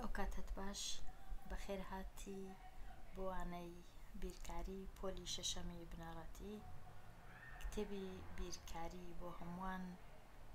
ئەوکاتەت باش بەخێر هاتی بۆ وانەی بیرکاری پۆلی شەشەمی بنەڕەتی کتێبی بیرکاری بۆ هەمووان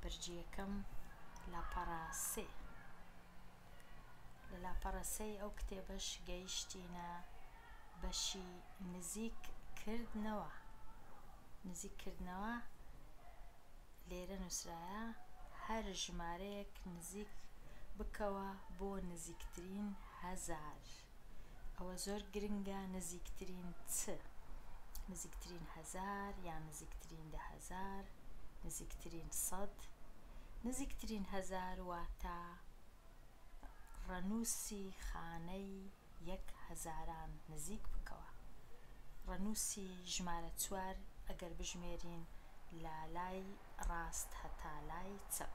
بەرگی یەکەم لاپەڕە سێ لە لاپەڕە سێی ئەو کتێبەش گەیشتینە بەشی نزیک کردنەوە. لێرە نوسرایە هەر ژمارەیەک نزیک بکەوە بۆ نزیکترین هەزار ئەوە زۆر گرنگە نزیکترین چ نزیکترین هەزار یان نزیکترین دە هەزار نزیکترین سەد نزیکترین هەزار واتە ڕەنوسی خانەی یەک هەزاران نزیک بکەوە. ڕەنووسی ژمارە چوار ئەگەر بژمێرین لە لای ڕاست هەتا لای چەپ،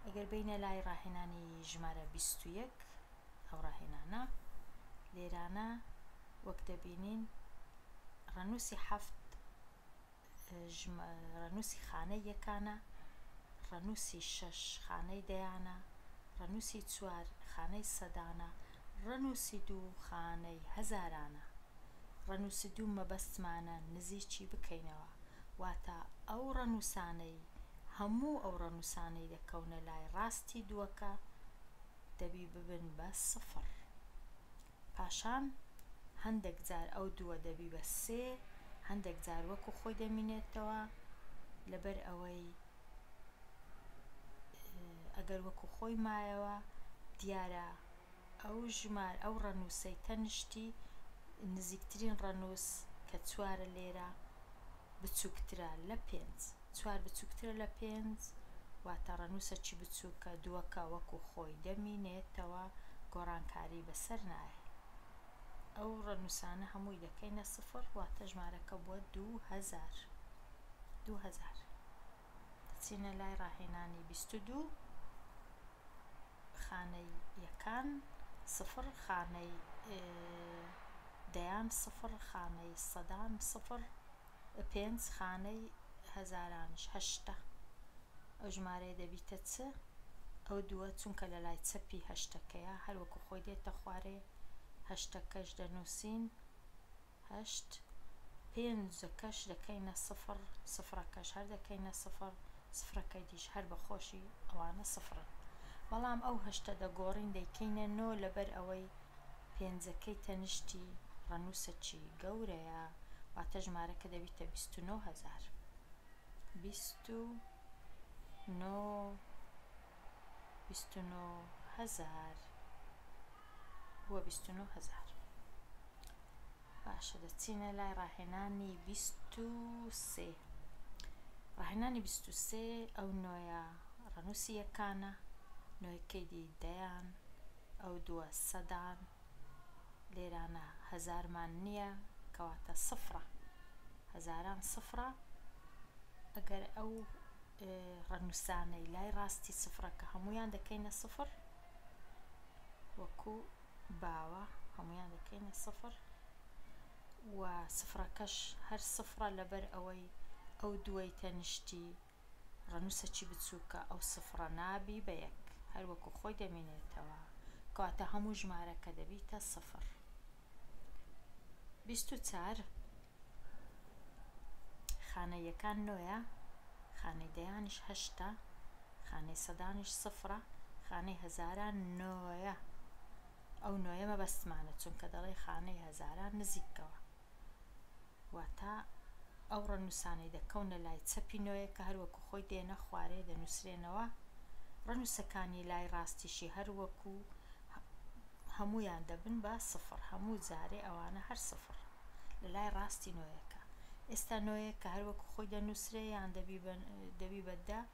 ئەگەر بێینە لای ڕاهێنانی ژمارە بیست و یەک، ئەو ڕاهێنانە لێرانە وەک دەبینین ڕەنووسی حەفت، ژمارەنووسی خانەی یەکانە، ڕەنووسی شەش خانەی دەیانە، ڕەنووسی چوار خانەی سەدانە، ڕەنووسی دوو خانەی هەزارانە. ڕەنووسی دوو مەبەستمانە نزیکی بکەینەوە، واتە ئەو ڕەنووسانەی هەموو ئەو ڕەنووسانەی دەکەونە لای ڕاستی دووەکە دەبی ببن بە سفر. پاشان هەندێک جار ئەو دووە دەبی بە سێ، هەندێک جار وەکو خۆی دەمینێتەوە، لەبەر ئەوەی ئەگەر وەکو خۆی مایەوە دیارە ئەو ژمارە ئەو ڕەنووسەی تەنیشتی نزیکترین ڕەنووس کە چوارە لێرە، بچوکترە لە پێنج. چوار بچوکترە لە پێنج واتە ڕەنوسەکی بچوکە، دووەکە وەکو خۆی دەمینێتەوە گۆڕانکاری بەسەر نایە. ئەو ڕەنوسانە هەمووی دەکەینە سفڕ واتە ژمارەکە بووە دوو هەزار. بچینە لای ڕاهێنانی بیست و دوو خانەی یەکان سفڕ خانەی دەیان سفڕ خانەی سەدان سفڕ پێنج خانەی هەزارانش هەشتە ئەو ژمارەیە دەبیتە چ ئەو دووە چونکە لە لای چەپی هەشتەکەیە هەروەکو خۆی دێتە خوارێ هەشتەکەش دەنووسین هەشت، پێنجەکەش دەکەینە سفر، سفرەکەش هەر دەکەینە سفر، سفرەکەیدیش هەر بە خۆشی ئەوانە سفرن. بەڵام ئەو هەشتە دەگۆڕین دەیکەینە نۆ لەبەر ئەوەی پێنجەکەی تەنیشتی ڕەنووسەکی گەورەیە، واتە ژمارەکە دەبیتە بیست و نۆ هەزار. بیست و نۆ. بیست و نۆ هەزار بووە بیست و نۆ هەزار باشە دەچینە لای ڕاهێنانی بیست و سێ ڕاهێنانی بیست و سێ ئەو نۆیە ڕەنووسی یەکانە نۆیەکەی دی دەیان ئەو دووە سەدان لێرانە هەزارمان نییە کەواتە سفرە هەزاران سفرە ئەگەر ئەو ڕەنوسانەی لای ڕاستی سفڕەکە هەموویان دەکەینە سفڕ وەکو باوە هەموویان دەکەینە سفڕ و سفڕەکەش هەر سفڕە لەبەر ئەوەی ئەو دوای تەنیشتی ڕەنوسەکی بچووکە ئەو سفڕە نابی بە یەک هەروەکو خۆی دەمینێتەوە کەواتە هەموو ژمارەکە دەبیتە سفڕ بیست و چار خانەی یەکان نۆیە خانەی دەیانیش هەشتە خانەی سەدانیش سفرە خانەی هەزاران نۆیە ئەو نۆیە مەبەستمانە چونکە دەڵێ خانەی هەزاران نزیکەوە واتە ئەو ڕەنووسانەی دەکەونە لای چەپی نۆیەک کە هەر وەکوو خۆی دێنە خوارێ دەنووسرێنەوە، ڕەنووسەکانی لای ڕاستیشی هەر وەکوو هەموویان دەبن بە سفر، هەموو جارێ ئەوانە هەر سفر لە لای ڕاستی نۆیەکە. ئێستا نۆیەک کە هەر وەکوو خۆی دەنووسرێ یان دەبی بە دە،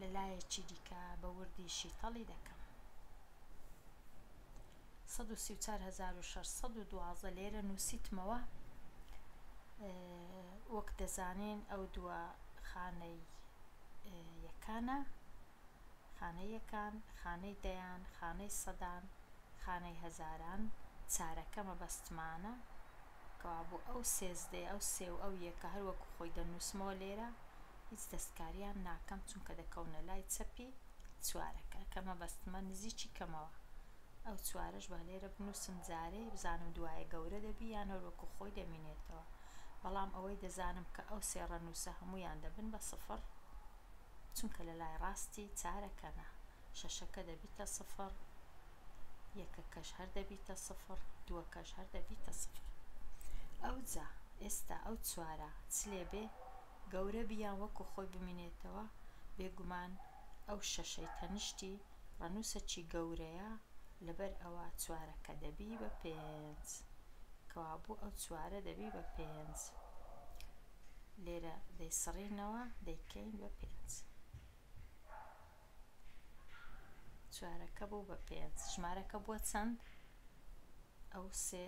لە لایەکی دیکە بە وردی شیتەڵی دەکەم. سەد و سی و چوار هەزار و شەش سەد و دوازدە لێرە نووسیتمەوە وەک دەزانین ئەو دووە خانەی یەکانە خانەی یەکان خانەی دەیان خانەی سەدان خانەی هەزاران چارەکە مەبەستمانە کەوابوو ئەو سێزدەی ئەو سێ و ئەو یەکە هەروەکو خۆی دەنووسمەوە لێرە هیچ دەستکاریان ناکەم چونکە دەکەونە لای چەپی چوارەکە کە مەبەستمە نزیکی کەمەوە ئەو چوارەش با لێرە بنوسم جارێ بزانم دوایە گەورە دەبی یان هەر وەکو خۆی دەمینێتەوە بەڵام ئەوەی دەزانم کە ئەو سێ ڕەنوسە هەمویان دەبن بە سفڕ چونکە لە لای ڕاستی چارەکەنە شەشەکە دەبیتە سفڕ یەکەکەش هەر دەبیتە سفڕ دوەکەش هەر دەبیتە سفڕ ئەوجا ئێستا ئەو چوارە چلێ بێ گەورە بی یان وەکو خۆی بمینێتەوە بێگومان ئەو شەشەی تەنشتی ڕەنوسەکی گەورەیە لەبەر ئەوە چوارەکە دەبی بە پێنج کەوابوو ئەو چوارە دەبی بە پێنج لێرە دەیسڕینەوە دەیکەین بە پێنج چوارەکە بوو بە پێنج ژمارەکە بووە چەند؟ ئەو سێ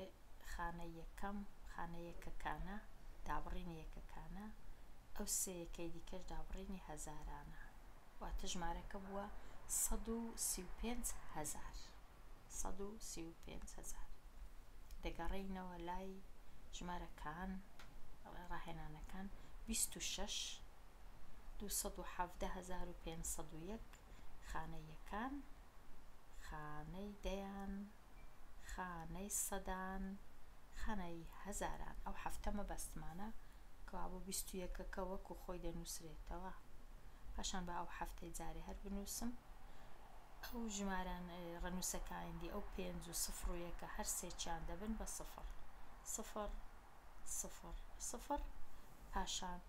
خانە یەکەم خانە یەکەکانە، دابڕینی یەکەکانە، ئەو سێ یەکەی دیکەش دابڕینی هەزارانە، واتە ژمارەکە بووە سەد و سی و پێنج هەزار. سەد و سی و پێنج هەزار. دەگەڕێینەوە لای ژمارەکان، ڕاهێنانەکان، بیست و شەش، دوو سەد و حەڤدە هەزار و پێنج سەد و یەک خانە یەکان، خانەی دەیان، خانەی سەدان، خانەی هەزاران. ئەو حەفتە مەبەستمانە کەوا بۆ بیست و یەکەکە وەکو خۆی دەنووسرێتەوە. پاشان با ئەو حەفتەی جارێ هەر بنووسم. ئەو ژماران ڕەنووسە کایندی ئەو پێنج و سفر و یەکە هەر سێکیان دەبن بە سفر. سفر سفر سفر پاشان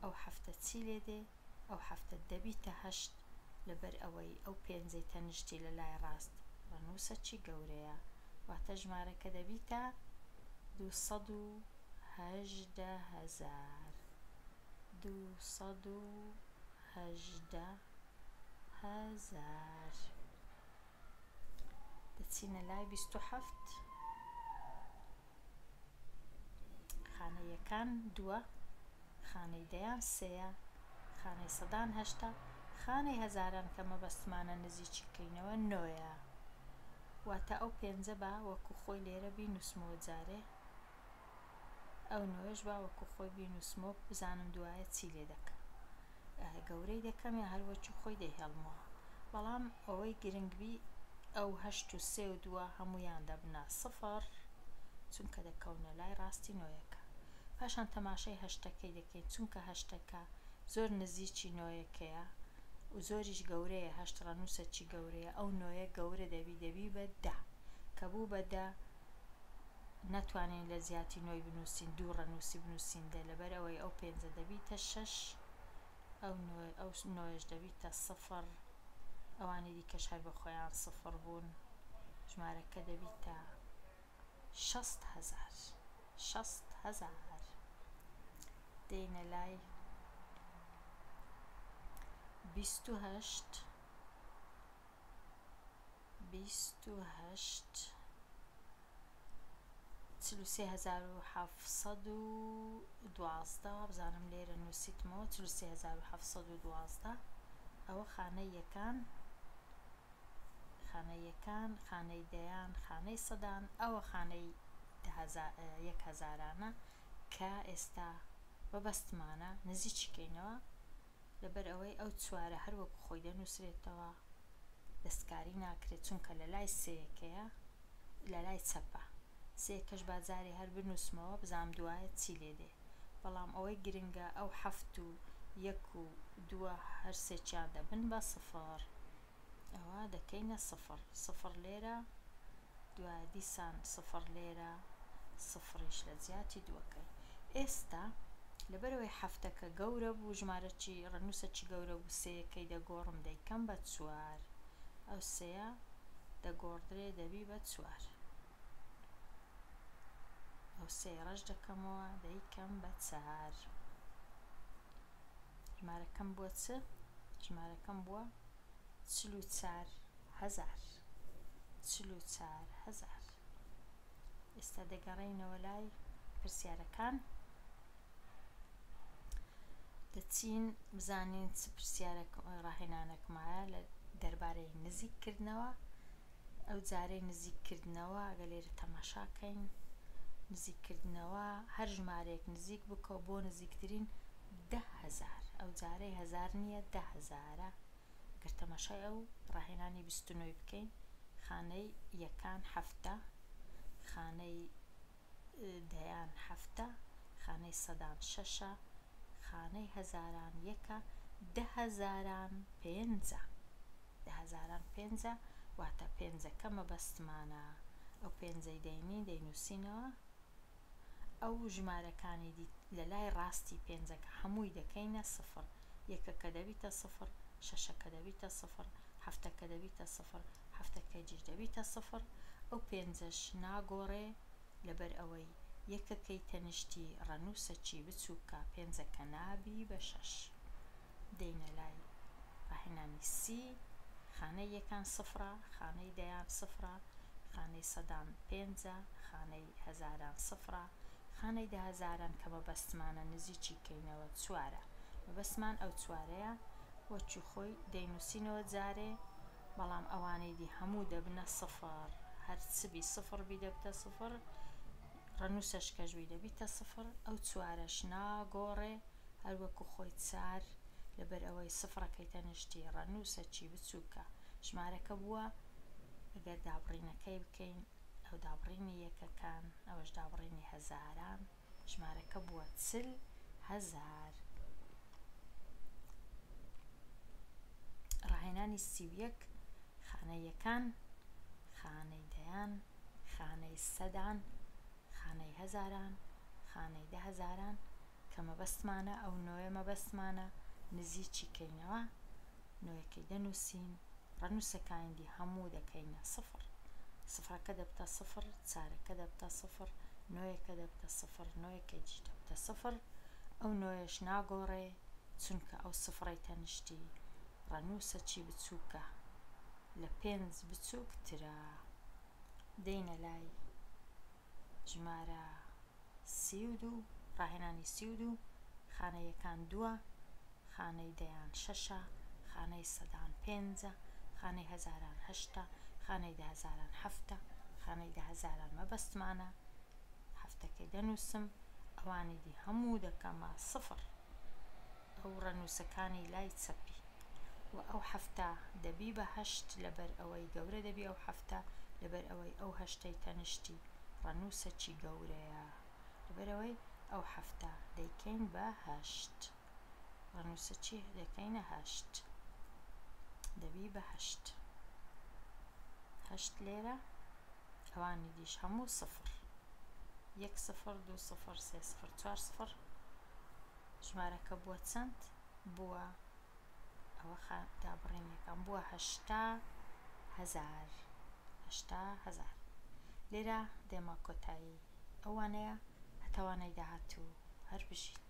ئەو حەفتە چی لێ دێ؟ ئەو حەفتەت دەبیتە هەشت لەبەر ئەوەی ئەو پێنجەی تەنشتی لە لای ڕاست ڕەنووسە چی گەورەیە واتە ژمارەکە دەبیتە دوو سەد و هەژدە هەزار دوو سەد و هەژدە هەزار دەچینە لای بیست و حەفت خانە یەکان دووە، خانەی دەیان سێیە، خانەی سەدان هەشتە، خانەی هەزاران کە مەبەستمانە نزیکی کەینەوە نۆیە. واتە ئەو پێنجە با وەکو خۆی لێرە بینوسمەوە جارێ ئەو نۆیەش با وەکو خۆی بینوسمەوە بزانم دوایە چی لێدەکەم. گەورەی دەکەم یا هەر وەکی خۆی دەیهێڵمەوە بەڵام ئەوەی گرنگ بی ئەو هەشت و سێ و دووە هەموویان دەبنە سفر چونکە دەکەونە لای ڕاستی نۆیەکە پاشان تەماشای هەشتەکەی دەکەین چونکە هەشتەکە زۆر نزیکی نۆیەکەیە و زۆریش گەورەیە هەشت ڕەنووسە چی گەورەیە ئەو نۆیە گەورە دەبی دەبی بە دە کە بوو بە دە نەتوانین لە جیاتی نۆی بنوسین دوو ڕەنوسی بنوسین دە لەبەر ئەوەی ئەو پێنجە دەبیتە شەش ئەو نۆیەش دەبیتە سفڕ ئەوانی دیکەش هەر بە خۆیان سفڕ بوون ژمارەکە دەبیتە شەست هەزار شەست هەزار دێینە لای بیست و هەشت بیست و هەشت چل و سێ هەزار و حەفت سەد و دوازدە وابزانم لێرە نووسیتمەوە چل و سێ هەزار و حەفت سەد و دوازدە ئەوە خانەی یەکان خانەی یەکان خانەی دەیان خانەی سەدان ئەوە خانەی یەک هەزارانە کە ئێستا بەبەستمانە نزیکی کەینەوە لەبەر ئەوەی ئەو چوارە هەر وەکو خۆی دەنووسرێتەوە دەستکاری ناکرێت چونکە لە لای سێیەکەیە لە لای چەپە سێیەکەش با جارێ هەر بنووسمەوە بزانم دوایە چی لێ دێ بەڵام ئەوەی گرنگە ئەو حەفت و یەک و دووە هەر سێکیان دەبن بە سفر ئەوا دەکەینە سفڕ، سفڕ لێرە، دوا دیسان سفڕ لێرە، سفڕیش لە جیاتی دووەکەی. ئێستا لەبەرئەوەی حەفتەکە گەورە بوو، ژمارە چی، ڕەنووسە چی گەورە بوو، سێیەکەی دەگۆڕم دەیکەم بە چوار، ئەو سێیە دەگۆڕدرێ دەبی بە چوار. ئەو سێیەڕەش دەکەمەوە دەیکەم بە چار ژمارەکەم بۆ چ ژمارەکەم بووە چل و چار هەزار چل و چار هەزار ئێستا دەگەڕێینەوە لای پرسیارەکان دەچین بزانین چ پرسیارە ڕاهێنانەکمایە لە دەربارەی نزیککردنەوە ئەو جارەی نزیک کردنەوە ئەگەر لێرە تەماشا کەین نزیک کردنەوە هەر ژمارەیەک نزیک بکەو بۆ نزیکترین دە هەزار ئەو جارەی هەزار نیە دە هەزارە گەر تەماشای ئەو ڕاهێنانی بیست و نۆی بکەین خانەی یەکان حەفتە خانەی دەیان هەفتە، خانەی سەدان شەشە، خانەی هەزاران یەکە، دە هەزاران پێنجە. دە هەزاران پێنجە، واتە پێنجەکە مەبەستمانە، ئەو پێنجەی دەینی دەینووسینەوە، ئەو ژمارەکانی دی لە لای ڕاستی پێنجەکە هەمووی دەکەینە سفر، یەکەکە دەبیتە سفر، شەشەکە دەبیتە سفر، هەفتەکە دەبیتە سفر، هەفتە کەجیش دەبیتە سفر، ئەو پێنجەش ناگۆڕێ، لەبەر ئەوەی یەکەکەی تەنیشتی ڕەنووسەکی بچووکە، پێنجەکە نابی بە شەش. دێینە لای ڕاهێنانی سی، خانەی یەکان سفرە، خانەی دەیان سفرە، خانەی سەدان پێنجە، خانەی هەزاران سفرە، خانەی دەهەزاران کە مەبەستمانە نزیکی کەینەوە چوارە، مەبەستمان ئەو چوارەیە، وەکی خۆی دەینووسینەوە جارێ، بەڵام ئەوانەی دی هەموو دەبنە سفر هەر چ بی سفر بی دەبتە سفر ڕەنووسەش کەش بی دەبیتە سفر ئەو چوارەش ناگۆڕێ هەر وەکو خۆی چار لەبەر ئەوەی سفرەکەی تەنیشتی ڕەنووسەکی بچووکە ژمارەکە بووە ئەگەر دابڕینەکەی بکەین ئەو دابڕینی یەکەکان ئەوەش دابڕینی هەزاران ژمارەکە بووە چل هەزار. ڕاهێنانی سی و یەک، خانەی یەکان، خانەی دەیان، خانەی سەدان، خانەی هەزاران، خانەی دە هەزاران، کە مەبەستمانە ئەو نۆیە مەبەستمانە نزیکی کەینەوە، نۆیەکەی دەنووسین، ڕەنووسەکایندی هەموو دەکەینە سفر. سفرەکە دەبتە سفر، چارەکە دەبتە سفر، نۆیەکە دەبتە سفر، نۆیەکەیدی دەبتە سفر، ئەو نۆیەش ناگۆڕێ، چونکە ئەو سفرەی تەنیشتی ڕەنووسەکی بچووکە، لە پێنج بچووکترە. دێینە لای. ژمارە سی و دوو، ڕاهێنانی سی و دوو، خانە یەکان دووە، خانەی دەیان شەشە، خانەی سەدان پێنجە، خانەی هەزاران هەشتە، خانەی دەهەزاران حەفتە، خانەی دەهەزاران مەبەستمانە حەفتەکەی دەنووسم، ئەوانی دی هەموو دەکەمە سفر. ئەو ڕەنووسەکانی لای چەپی. وە ئەو حەفتا دەبی بە هەشت لەبەر ئەوەی گەورە دەبی ئەو حەفتا لەبەر ئەوەی ئەو هەشتەی تەنیشتی ڕەنووسەکی گەورەیە لەبەر ئەوەی ئەو حەفتا دەیکەین بە هەشت ڕەنووسەکی دەکەینە هەشت دەبی بە هەشت هەشت لێرە ئەوانی دیش هەموو سفر یەک سفر دوو سفر سێ سفر چوار سفر ژمارەکە بووە چەند؟ بووە ئەوە خا دابڕینێکە بووە هەشتا هەزار هەشتا هەزار لێرە دێمە کۆتایی ئەو وانەیە هەتا وانەی داهاتوو هەر بژیت.